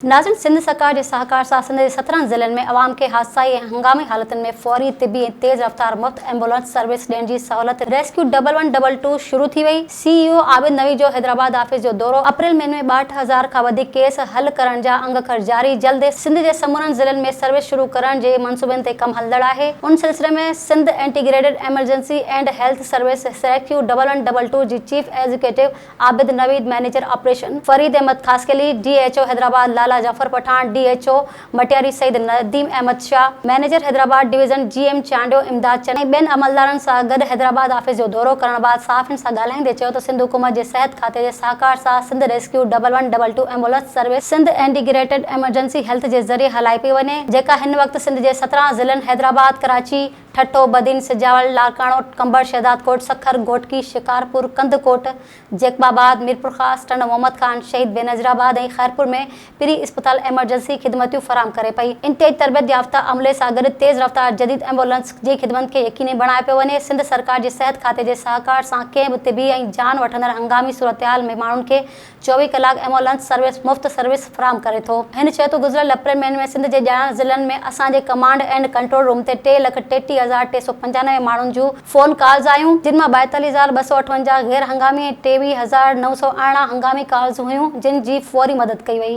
ناظرين سنڌ سرڪار جي سهڪار سان سنڌ جي سترهن ضلعن ۾ عوام کي حادثائي ۽ هنگامي حالتن ۾ فوري طبي ۽ تيز رفتار مفت ايمبولنس سروس ڏيڻ جي سهولت rescue double one double two شروع ٿي وئي، سي اي او عابد نوي جو حيدرآباد آفيس جو دورو، اپريل مهيني ۾ ٻاهٺ هزار کان وڌيڪ ڪيس حل ڪرڻ جا انگ اکر جاري، جلد ئي سنڌ جي سمورن ضلعن ۾ سروس شروع ڪرڻ جي منصوبن تي ڪم هلندڙ آهي، ان سلسلي ۾ Sindh integrated emergency and health service سريڪيو ڊبل ون ڊبل ٽو جي chief executive Abid Naveed manager operation, Farid Ahmed Khaskheli, D H O Hyderabad Lala Jafar Pathan, D H O Matiari Syed Nadeem Ahmed Shah, manager Hyderabad division G M Chandio Imdad چني ۽ ٻين عملدارن سان گڏ حيدرآباد آفيس جو دورو ڪرڻ بعد صحافين سان ڳالهائيندي چيو ته سنڌ حڪومت جي صحت کاتي جي سهڪار سان Sindh rescue double one double two ambulance service Sindh integrated emergency health جي ذريعي هلائي پئي وڃي جيڪا هن وقت سنڌ جي سترهن ضلعن حيدرآباد، ڪراچي، ٺٽو، بدين، سجاول، لاڙڪاڻو، ڪنڀر، شهدادڪوٽ، سکر، گهوٽڪي، شڪارپور، ڪنڌڪوٽ، جيڪب آباد، ميرپورخاص، ٽنڊو محمد خان، شهيد بينظير آباد ۽ خيرپور ۾ پري اسپتال ايمرجنسي خدمتيون فراهم ڪري پئي. انتهائي تربيت يافته عملي سان گڏ تيز رفتار جديد ايمبولنس جي خدمتن کي يقيني بڻايو پيو وڃي، سنڌ سرڪار جي صحت کاتي جي سهڪار سان ڪنهن به طبي ۽ جان وٺندڙ هنگامي صورتحال ۾ ماڻهن کي چوويهه ڪلاڪ ايمولنس سروس مفت سروس فراهم ڪري ٿو. هن چيو ته گذريل اپريل مهيني ۾ سنڌ جي ڄاڻايل ضلعن ۾ اسان جي ڪمانڊ اينڊ ڪنٽرول روم تي ٽي لک ٽيٽيهه هزار ٽي سؤ پنجانوي ماڻهن جون فون ڪالز آيون جن مان ٻائيتاليهه هزار ٻه سؤ اٺونجاهه غير هنگامي ۽ ٽيويهه هزار نو سؤ ارڙهن هنگامي ڪالز هيون جن جي فوري مدد ڪئي وئي.